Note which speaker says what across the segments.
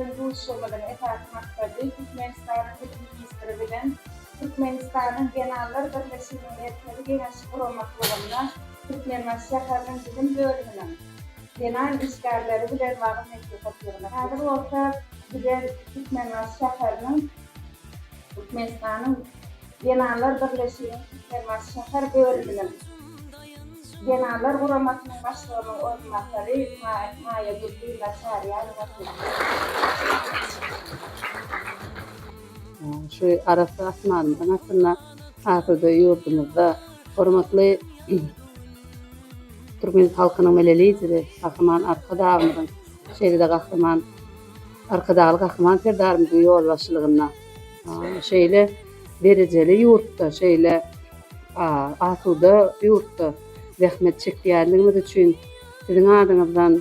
Speaker 1: Gündogaryň duşuşygynyň esasy maksady Türkmenistanyň Milli ministri bilen Türkmenistanyň Generallar Birleşiginiň Merkezi Geňeşi guramaklygynda Türkmenbaşy şäheriniň bilim bölüminiň zenan işgärleri bilen wagyz-nesihat ýygnagy. Häzir bolsa bize Türkmenbaşy şäheriniň Türkmenistanyň. Zenanlar
Speaker 2: birleşiginiň Intermars şäher bölüminiň Zenanlar guramasynyň başlygynyň orunbasary Maýagül Gülnaçarýanowa söz aldy. Şu arassa asmanymyzyň astynda asuda ýurdumyzda hormatly türkmen halkynyň Milli Lideri Gahryman Arkadagymyzyň, şeýle-de Gahryman Arkadagly Gahryman Serdarymyzyň ýolbaşçylygynda, Şeýle derejeli ýurtda, şeýle asuda ýurtda zähmet çekýändigiňiz üçin Siziň adyňyzdan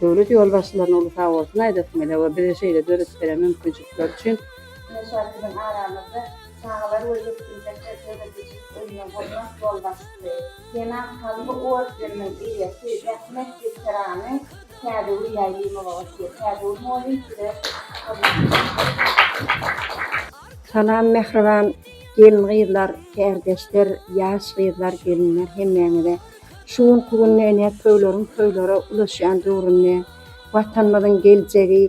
Speaker 2: döwlet ýolbaşçylaryna uly sagbolsun aýdasym gelýär we bize şeýle döredip beren mümkinçilikler üçin. Ine, şol biziň aramyzda çagalar we ýetginjekler
Speaker 1: döredijilik öýüniň gurmak ýolbaşçysy, Kenan Kalby ordeniniň eýesi, zähmet weterany,
Speaker 3: Täzeguly Laýlymowa goşýar. Täzeguly mugallym size Salam mähriban gelin gyzlar kärdeşler ýaş gyzlar gelinler hemmäňize şu günki günde ine köýleriň köýlere ulaşýan döwründe watanymyzyň geljegi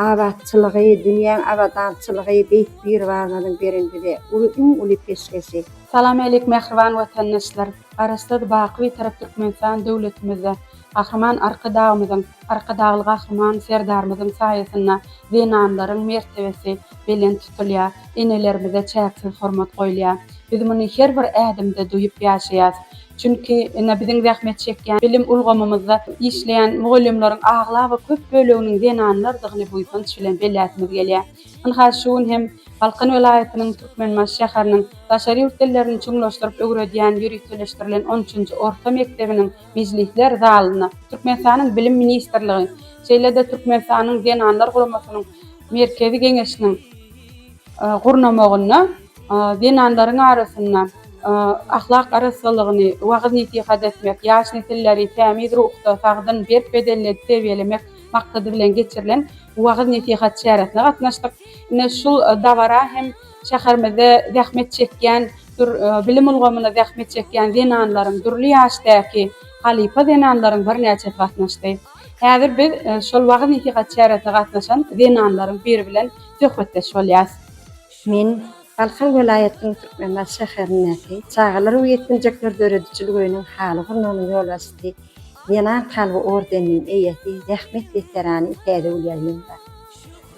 Speaker 3: abatçylygy dünýäň abadançylygy beýik birbazymyzyň beren bize uly iň uly peşgeşi. Salam äleýk
Speaker 4: mähriban watandaşlar Garaşsyz baky Bitarap Türkmenistan döwletimizde Gahryman Arkadagymyzyň, Arkadagly Gahryman Serdarymyzyň saýasynda zenanlaryň mertebesi belent tutulýar, enelerimize çäksiz hormat goýulýar. Biz muny her bir ädimde duýup ýaşaýarys. Çünki ene biziň zähmet çekýän, bilim ulgamymyzda işleýän mugallymlaryň aglaba köp böleginiň zenanlardygyny buýsanç bilen belläsimiz gelýär. Ynha, şu gün hem Balkan welaýatynyň Türkmenbaşy şäheriniň daşary ýurt dillerini çuňlaşdyryp öwredýän ýöriteleşdirilen on üçünji orta mekdebiniň Mejlisler zalynda Türkmenistanyň Bilim ministrligi, şeýle-de Türkmenistanyň Zenanlar guramasynyň Merkezi Geňeşiniň gurnamagynda zenanlaryň arasynda ahlak arassalygyny wagyz-nesihat etmek, ýaş nesilleri tämiz ruhda, sagdyn, berk bedenli terbiýelemek maksady bilen geçirilen wagyz-nesihat çäresine gatnaşdyk. Ine, şul dabara hem Şäherimizde zähmet çekýän, bilim ulgamynda zähmet çekýän zenanlaryň, dürli ýaşdaky halypa zenanlaryň birnäçesi gatnaşdy. Häzir biz şol wagyz-nesihat çäresine gatnaşan zenanlaryň biri bilen söhbetdeş bolýarys. Men
Speaker 3: Balkan welaýatynyň Türkmenbaşy şäherindäki Çagalar we ýetginjekler döredijilik öýüniň haly gurnagynyň ýolbaşçysy, Zenan kalby ordeniniň eýesi, zähmet weterany Täzegül Ýaýlymba.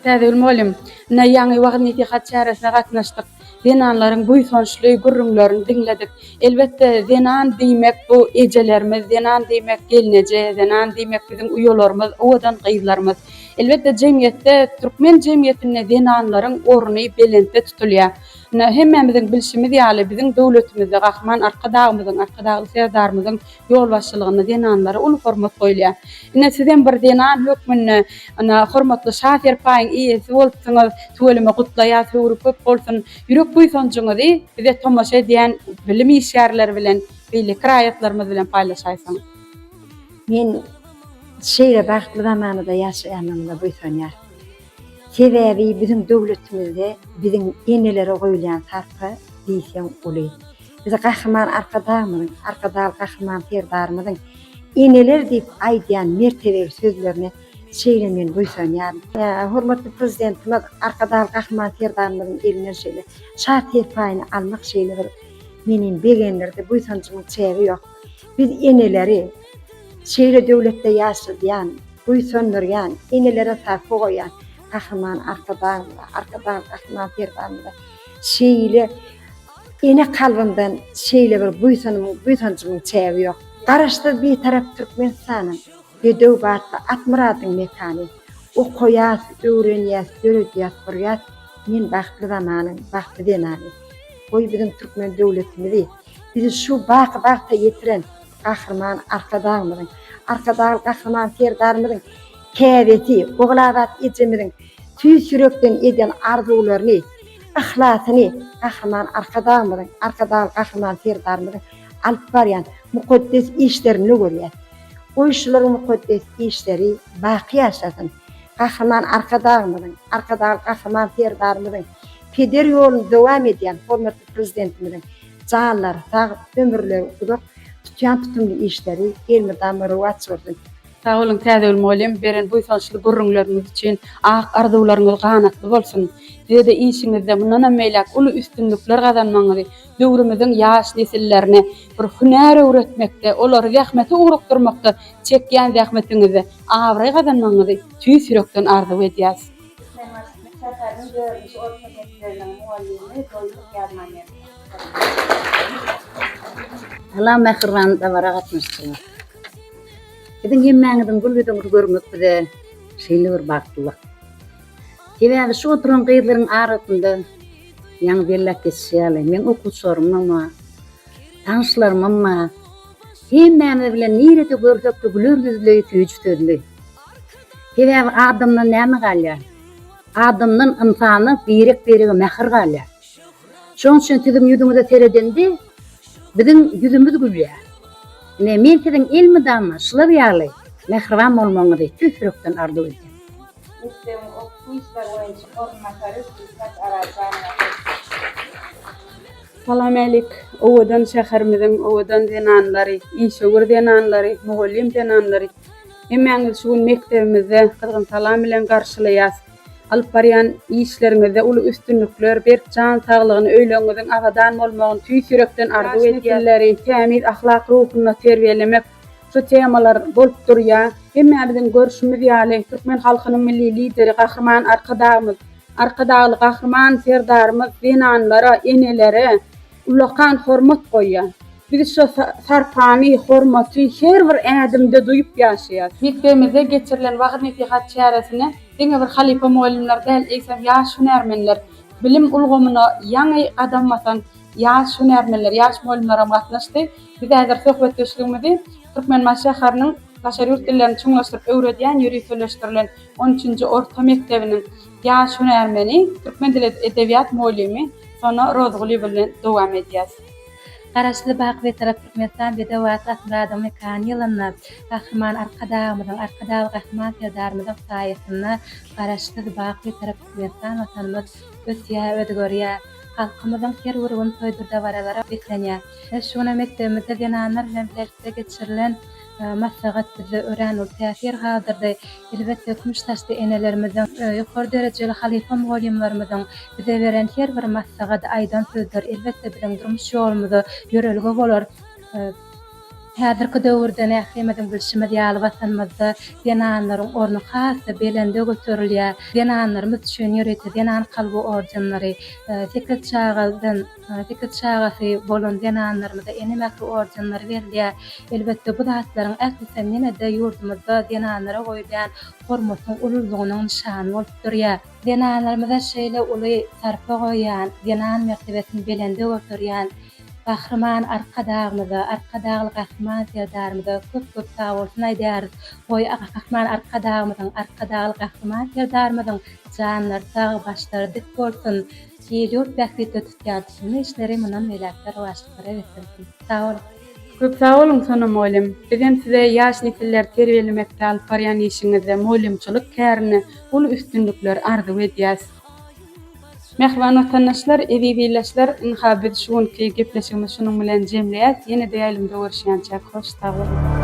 Speaker 3: Täzegül
Speaker 4: mugallym, Mundan ýaňy wagyz-nesihat çäresine gatnaşdyk. Zenanlaryň buýsançly gürrüňlerini diňledik. Elbetde, zenan diýmek, bu ejelerimiz, zenan diýmek, gelneje, zenan diýmek, biziň uýalarymyz, owadan gyzlarymyz. Elbetde, jemgyýetde, türkmen jemgyýetinde zenanlaryň orny belentde tutulýar. Ine, hemmämiziň bilşimiz ýaly, biziň döwletimizde Gahryman Arkadagymyzyň, Arkadagly Serdarymyzyň ýolbaşçylygynda zenanlara uly hormat goýulýar. Ine, sizem bir zenan hökmünde ynha, hormatly şa serpaýyň eýesi bolupsyňyz. Tüweleme gutlaýas, höwri köp bolsun. Ýürek buýsanjyňyzy bize tomaşa edýän bilim işgärleri bilen, beýleki raýatlarymyz bilen paýlaşaýsaňyz.
Speaker 3: Men şeýle bagtly zamanada ýaşaýanymyza buýsanýaryn. Sebäbi biziň döwletimizde biziň enelere goýulýan sarpa diýseň uly. Bizi Gahryman Arkadagymyzyň, Arkadag Gahryman Serdarymyzyň eneler diýip aýdýan mertebeli sözlerine şeýle men buýsanýaryn. Hormatly Prezidentimiz Arkadag Gahryman Serdarymyzyň elinden şeýle şa serpaýyny almak şeýle bir meni begendirdi, buýsanjymyň çägi ýok. Biz eneleri şeýle döwletde ýaşadýan, buýsandyrýan, enelere sarpa goýýan Gahryman Arkadagymyza, Arkadag Gahryman Serdarymyza şeýle Ene kalbymdan şeýle bir buýsanymyň, buýsanjymyň çägi ýok. Garaşsyz Bitarap Türkmenistanyň bedew batly Atmyradyň mekany. Okaýas, öwrenýäs, döredýäs, gurýas, men bagtly zamanyň bagtly zenany. Goý biziň türkmen döwletimizi, bizi şu baky bagta ýetiren Gahryman Arkadagymyzyň, Arkadagly Gahryman Serdarymyzyň käbesi, Ogulabat ejemiziň tüýs ýürekden edýän arzuwlaryny, yhlasyny Gahryman Arkadagymyzyň, Arkadag Gahryman Serdarymyzyň alyp barýan mukaddes işlerinde görýäs. Goý, şular mukaddes işleri baky ýaşasyn! Gahryman Arkadagymyzyň, Arkadag Gahryman Serdarymyzyň peder ýoluny dowam edýän hormatly Prezidentimiziň janlary sag, ömürleri uzak tutýan tutumly işleri elmydama rowaç görsün! Sag boluň Täzegül
Speaker 4: mugallym beren buýsançly gürrüňleriňiz üçin, ak arzuwlaryňyz ganatly bolsun! Size-de işiňizde mundanam beýläk uly üstünlikler gazanmagyňyzy, döwrümiziň ýaş nesillerine bir hünär öwretmekde, olary zähmete ugrukdyrmakda çekýän zähmetiňizde abraý gazanmagyňyzy tüýs ýürekden arzuw edýäs! Hemişe şäheriň dördünji orta mekdebiniň
Speaker 1: mugallymy Doýduk Ýazmammedowna.
Speaker 2: Salam mähriban dabara gatnaşyjylar! Siziň hemmäňiziň gül ýüzüňizi görmek bize şeýle bir bagtlylyk. Sebäbi şu oturan gyzlaryň arasynda ýaňy belläp geçişi ýaly, meň okuwçylarymam bar, tanyşlarymam bar. Hemmämiz bilen nirede görsek-de güler ýüzli, süýji sözli. Sebäbi adamdan näme galýar? Adamdan ynsana birek-birege mähir galýar. Şoň üçin siziň ýüzüňize seredende, biziň ýüzümiz gülýär. Ine, men siziň elmydama şular ýaly mähriban bolmagyňyzy tüýs ýürekden arzuw edýän. Mekdebiň okuw işleri
Speaker 1: boýunça orunbasary Zülfat
Speaker 4: Arazjanowa söz. Salamalik! Owadan şäherimiziň owadan zenanlary, işewür zenanlary, mugallym zenanlary, hemmäňizi şu gün mekdebimizde gyzgyn salam bilen garşylaýas. Alyp barýan işleriňizde uly üstünlikler, berk jan saglygyny, öýleňňiziň abadan bolmagyny tüýs ýürekden arzuw edýäris. Ýaş nesilleri tämiz ahlak ruhunda terbiýelemek şu temalar bolup durýar. Hemmämiziň görşümiz ýaly, türkmen halkynyň Milli Lideri Gahryman Arkadagymyz, Arkadagly Gahryman Serdarymyz zenanlara, enelere, Ullakan hormat goýýan. Biz şo sarpany, hormaty her bir ädimde duýup ýaşaýas. Mekdebimizde geçirilen wagyz-nesihat çäresine diňe bir halypa mugallymlar däl, eýsem ýaş hünärmenler, bilim ulgamyna ýaňy gadam basan ýaş hünärmenler, ýaş mugallymlaram gatnaşdy. Biz häzir söhbetdeşligimizi Türkmenbaşy şäheriniň daşary ýurt dillerini çuňlaşdyryp öwredýän ýöriteleşdirilen on üçünji orta mekdebiniň Ýaş hünärmeni türkmen dili we edebiýat mugallymy Sona Rozgulyýewa bilen dowam edýäs. Garaşsyz
Speaker 5: baky Bitarap Türkmenistan bedew atly Atmyradyň mekany ýylynda Gahryman Arkadagymyzyň, Arkadagly Gahryman Serdarymyzyň saýasynda Garaşsyz baky Bitarap Türkmenistan Watanymyz ösýär, özgerýär. Halkymyzyň her bir gün toýdur-dabaralara beslenýär. Ine, şu günä mekdebimizde zenanlar bilen bilelikde geçirilen Maslahat bizde örän uly täsir galdyrdy. Elbetde, kümüş saçly enelerimiziň, ýokary derejeli halypa mugallymlarymyzyň bize beren her bir maslahat, aýdan sözler elbetde biziň durmuş ýolumyza ýörelge bolar. Häzirki döwürde nähiliňiziň bilşimiz ýaly Watanymyzda zenanlaryň orny has-da belende göterilýär. Zenanlarymyz üçin ýörite Zenan kalby ordenleri, Sekiz çagadan, Sekiz çagasy bolan zenanlarymyza ene mähri ordenleri berilýär. Elbetde, bu zatlaryň ählisi ýene-de ýurdumyzda zenanlara goýulýan hormatyň ululygynyň nyşany bolup durýar. Zenanlarymyza şeýle uly sarpa goýýan, zenan mertebesini belende göterýän Gahryman Arkadagymyza, Arkadagly Gahryman Serdarymyza köp-köp sagbolsun aýdýarys. Goý, Gahryman Arkadagymyzyň, Arkadagly Gahryman Serdarymyzyň janlary sag, başlary dik bolsun! Ýedi ýurt bähbitde tutýardy şuny işleri mundan beýläkde rowaçlyga beslensin. Sag boluň. Köp sag boluň
Speaker 4: Sona mugallym. Bizem size ýaş nesilleri terbiýelemekde alyp barýan işiňizde mugallymçylyk kärine uly üstünlikler arzuw edýäs. Mähriban watandaşlar, eziz ildeşler ynha biz şu günki gepleşigimizi şunuň bilen jemleýäs, ýene-de ýaýlymda görüşýänçäk hoş sag boluň.